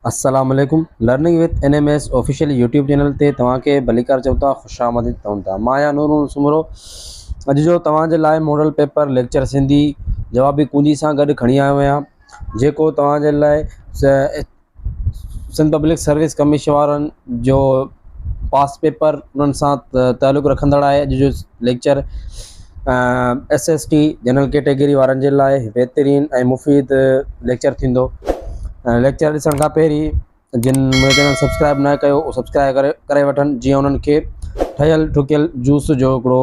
السلام عليڪم learning with N M S official YouTube channel تي توهان کي ڀليڪار چئون ٿا خوش آمديد چئون ٿا مان آهيان نور نور سومرو اڄ جو توهان جي لاء ماڊل پيپر ليڪچر سنڌي جوابي ڪونجي سان گڏ کڻي آيو آهيان جيڪو توهان جي لاء سنڌ پبلڪ سروس ڪميشن وارن جو پاس پيپر انهن سان تعلق رکندڙ آهي. اڄ جو lecture S S T general category وارن جي لاء بهترين ۽ مفيد ليڪچر ٿيندو ليڪچر ڏسڻ کان پهرين جن منهنجو چينل سبسڪرائب نه ڪيو اهو سبسڪرائب ڪري ڪري وٺن جيئن انهن کي ٺهيل ٺڪيل جوس جو هڪڙو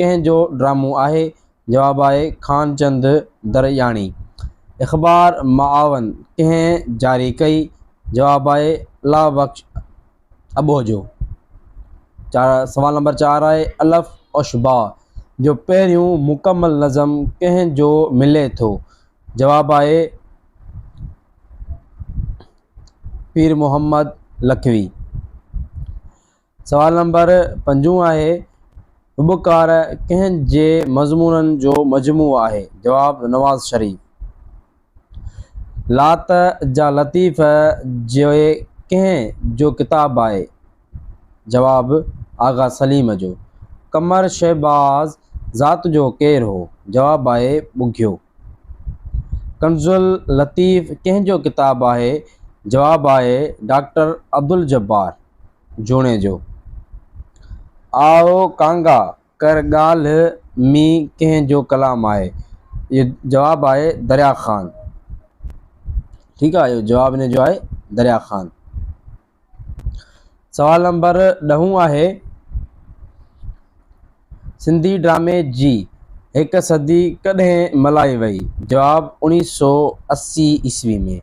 ڪنهن جو ڊرامو آهي؟ جواب آهي خانچند درياڻي. اخبار معاون ڪنهن جاري ڪئي؟ جواب آهي الله بخش اٻوجهو. سوال نمبر چار آهي الف اشباع جو پهريون مڪمل نظم ڪنهن جو ملي ٿو؟ جواب آهي پير محمد لکوي. سوال نمبر پنجون آهي، هٻڪار ڪنهن جي مضمونن جو مجموعو آهي؟ جواب، نواز شريف. لات جا لطيف جي ڪنهن جو ڪتاب آهي؟ جواب، آغا سليم جو. قمر شهباز ذات جو ڪير هو؟ جواب آهي، ٻگهيو. ڪنزالطيف ڪنهن جو ڪتاب آهي؟ جواب آهي، ڊاڪٽر عبدالجبار. جوڻيجو، آء ڪانگا ڪر ڳالهه مين ڪنهن جو ڪلام آهي؟ اهو جواب آهي دريا خان. ٺيڪ آهي اهو جواب هن جو آهي دريا خان. سوال نمبر ڏهون آهي. سنڌي ڊرامي جي هڪ صدي ڪڏهن ملهائي وئي؟ جواب، اوڻيهه سؤ اسي عيسوي ۾.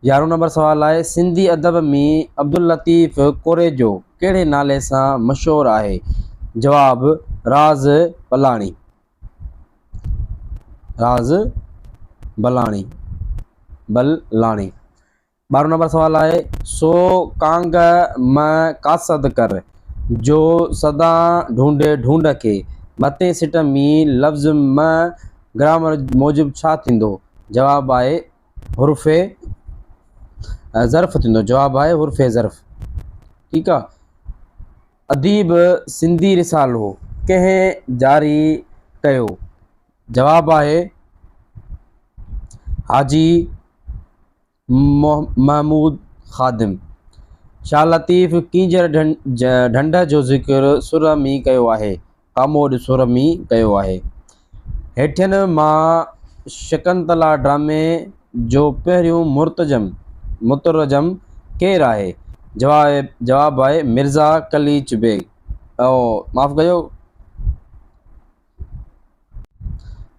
يارهون نمبر سوال آهي، سنڌي ادب مين عبداللطيف ڪوريجو ڪهڙي نالي سان مشهور آهي؟ جواب، راز بلاڻي. راز بلاڻي، بل لاڻي. ٻارهون نمبر سوال آهي، سو ڪانگ مئه قاصد ڪر، جو سدا ڍونڍي ڍونڍ کي. مٿين سٽ مين لفظ مئه گرامر موجب ڇا ٿيندو؟ جواب آهي حرف ظرف ٿيندو. جواب آهي حرف ظرف. ٺيڪ آ. اديب سنڌي رسالو ڪنهن جاري ڪيو؟ جواب آهي حاجي محمود خادم، شاهه لطيف ڪينجهر ڍنڍ جو ذڪر سر ۾ ڪيو آهي، ڪاموڏ سر ۾ ڪيو آهي. هيٺين مان شڪنتلا ڊرامي جو پهريون مرتجم، مترجم، ڪير آهي؟ جواب آهي مرزا قليچ بيگ.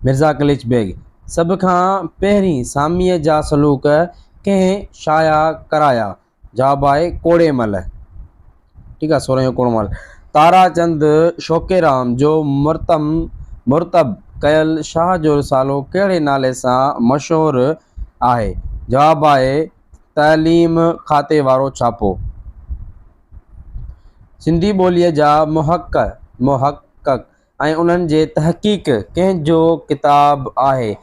مرزا قليچ بيگ سڀ کان پهرين ساميء جا سلوڪ ڪنهن شايع ڪرايا؟ جواب آهي ڪوڙي مل، ٺيڪ آهي، سورهيون ڪوڙو مل، تارا چند شوقيرام جو مرتم مرتب ڪيل شاهه جو رسالو ڪهڙي نالي سان مشهور آهي؟ جواب آهي تعليم کاتي وارو ڇاپو. سنڌي ٻوليء جا محقق ۽ انهن جي تحقيق ڪنهن جو ڪتاب آهي؟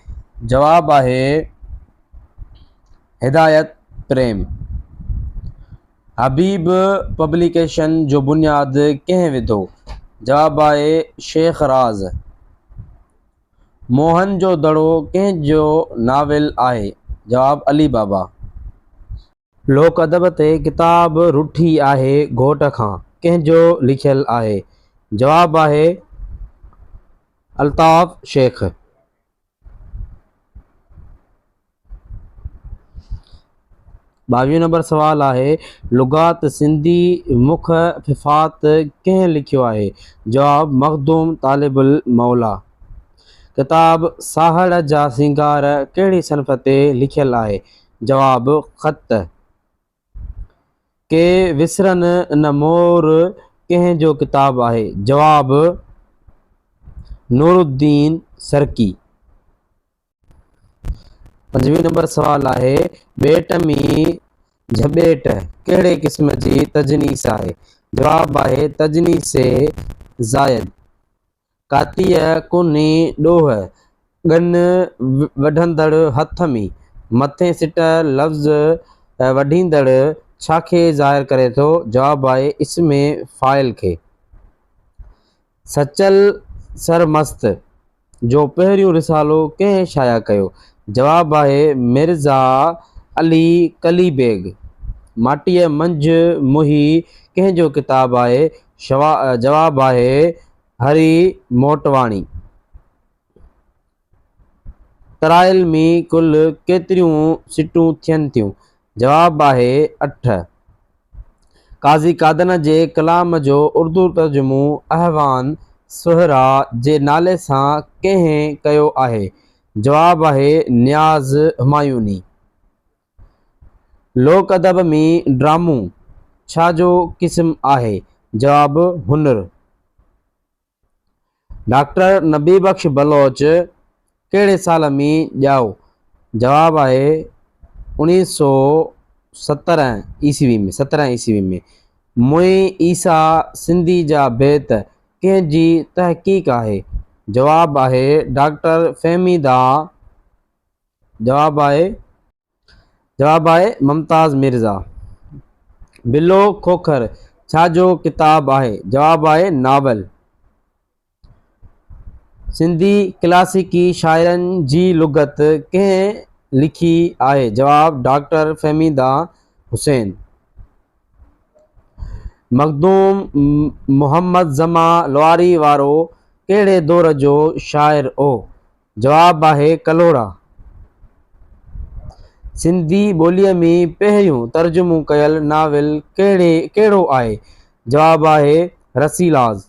جواب آهي هدايت پريم. حبيب پبليڪيشن جو بنياد ڪنهن وڌو؟ جواب آهي شيخ راز. موهن جو دڙو ڪنهن جو ناول آهي؟ جواب علي بابا. لوڪ ادب تي ڪتاب رٺي آهي گهوٽ کان ڪنهن جو لکيل آهي؟ جواب آهي الطاف شيخ. ٻاويهون نمبر سوال آهي لغات سنڌي مک ففات ڪنهن لکيو آهي؟ جواب مخدوم طالب الموليٰ. ڪتاب ساهڙ جا سينگار ڪهڙي صنف تي لکيل آهي؟ جواب خط، ڪي وسرن نه مور ڪنهن جو ڪتاب آهي؟ جواب، نورالدين سرڪي. پنجويهه نمبر سوال آهي، ٻيٽ ۾ جهٻيٽ ڪهڙي قسم جي تجنيس آهي؟ جواب آهي، تجنيس زائد. ڪاتيء ڪونھي ڏوھ، ڳن وڍندڙ ھٿ ۾، مٿين سٽ لفظ وڍيندڙ ڇا کي ظاھر ڪري ٿو؟ جواب آھي اسم فاعل کي. سچل سرمست جو پهريون رسالو ڪنهن شايع ڪيو؟ جواب آھي مرزا علي قلي بيگ. ماٽيء منجهه موھي ڪنهن جو ڪتاب آھي؟ جواب آهي هري موٽواڻي. ترائيل ۾ ڪل ڪيتريون سٽون ٿين ٿيون؟ جواب آهي اٺ. قاضي قادنه جي ڪلام جو اردو ترجمو احوان سهرا جي نالي سان ڪنهن ڪيو آهي؟ جواب آهي نياز همايوني. لوڪ ادب ۾ ڊرامو ڇا جو قسم آهي؟ جواب، هنر. ڊاڪٽر نبي بخش بلوچ ڪهڙي سال ۾ ڄائو؟ جواب آهي اوڻيهه سو سترهن عيسوي ۾، سترهن عيسوي ۾. موئن عيسيٰ سنڌي جا بيت ڪنهن جي تحقيق آهي؟ جواب آهي ڊاڪٽر فهمي دانهن. جواب آهي جواب آهي ممتاز مرزا. بلو کوکر ڇا جو ڪتاب آهي؟ جواب آهي ناول. سنڌي ڪلاسيڪي شاعرن جي لغت ڪنهن لکي آهي؟ جواب ڊاڪٽر فهميده حسين. مخدوم محمد زمان لواري وارو ڪهڙي دور جو شاعر هو؟ جواب آهي ڪلهوڙا. سنڌي ٻوليء ۾ پهريون ترجمو ڪيل ناول ڪهڙي ڪهڙو آهي؟ جواب آهي رسيلاز.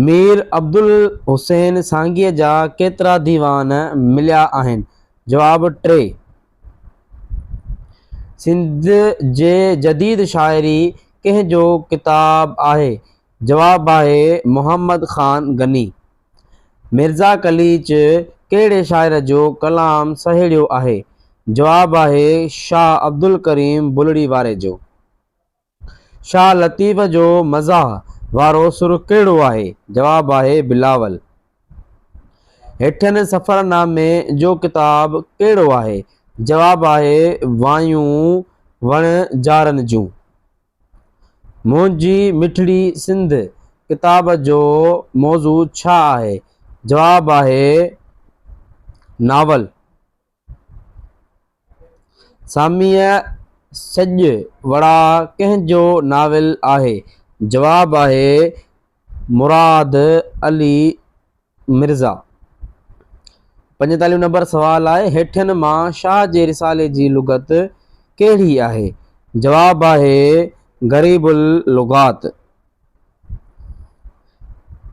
مير عبدالحسين سانگيء جا ڪيترا ديوان مليا آهن؟ جواب ٽي. سنڌ جي جديد شاعري ڪنهن جو ڪتاب آهي؟ جواب آهي محمد خان غني. مرزا قليچ ڪهڙي شاعر جو ڪلام سهيڙيو آهي؟ جواب آهي شاهه عبدالڪريم بلڙي واري جو. شاهه لطيف جو مزاح وارو سر ڪهڙو آهي؟ جواب آهي بلاول. هيٺين سفرنامي جو ڪتاب ڪهڙو آهي؟ جواب آهي وايون وڻجارن جون. منهنجي مٺڙي سنڌ ڪتاب جو موضوع ڇا آهي؟ جواب آهي ناول. ساميء سڄ وڙا ڪنهن جو ناول آهي؟ جواب آهي مراد علي مرزا، پنجيتاليهون نمبر سوال آهي، هيٺين مان شاهه جي رسالي جي لغت ڪهڙي آهي؟ جواب آهي غريب اللغات.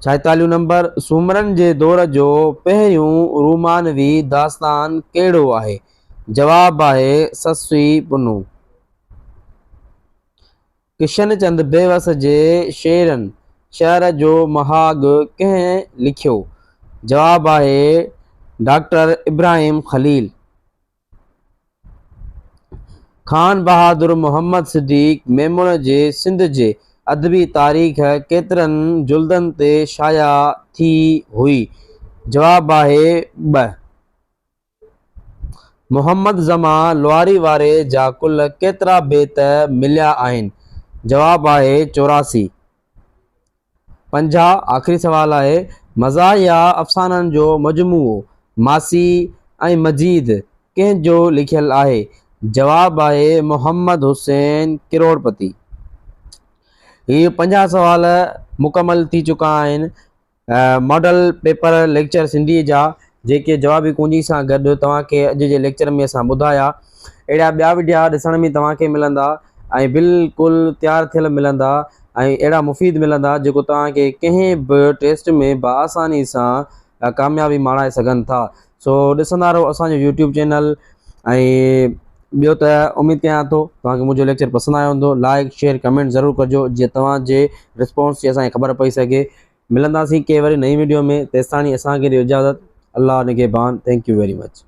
ڇاهيتاليهون نمبر سومرن جي دور جو پهريون رومانوي داستان ڪهڙو آهي؟ جواب آهي سسوي پنو. ڪشن چند بيوس جي شعرن شهر جو مهاڳ ڪنهن لکيو؟ جواب آهي ڊاڪٽر ابراهيم خليل. خان بهادر محمد صديق ميمڻ جي سنڌ جي ادبي تاريخ ڪيترن جلدن تي شايع ٿي هئي؟ جواب آهي ٻه. محمد زمان لوهاري واري جا ڪل ڪيترا بيت مليا آهن؟ جواب آهي چوراسي. پنجاهه آخري سوال آهي مزاح يا افسانن جو مجموعو ماسي ۽ مجيد ڪنهن جو لکيل آهي؟ جواب آهي محمد حسين ڪروڙپتي. هي پنجاهه سوال مڪمل ٿي چڪا آهن. ماڊل پيپر ليڪچر سنڌيء جا جيڪي جوابي ڪونجي سان گڏ توهان کي اڄ جي ليڪچر ۾ اسان ٻڌايا اهڙا ٻيا وڊيا ڏسڻ ۾ توهان کي ملندا ۽ بلڪل تيار ٿيل ملندا ۽ اهڙا مفيد ملندا جيڪو توهان کي ڪنهن به ٽيسٽ ۾ بآساني سان ڪاميابي ماڻائي سگهن ٿا سو ڏسندا رهو اسان جو يوٽيوب چينل ۽ ٻيو ته اميد ڪيان ٿو توهان کي منهنجو ليڪچر پسند آيو هوندو لائڪ شيئر ڪمينٽ ضرور ڪجو جيئن توهان جي رسپانس جي اسان کي خبر پئي سگهي ملنداسين ڪنهن وري نئين ويڊيو ۾ تيستاڻي اسان کي ڏيو اجازت الله نگهبان ٿينڪ يو ويري مچ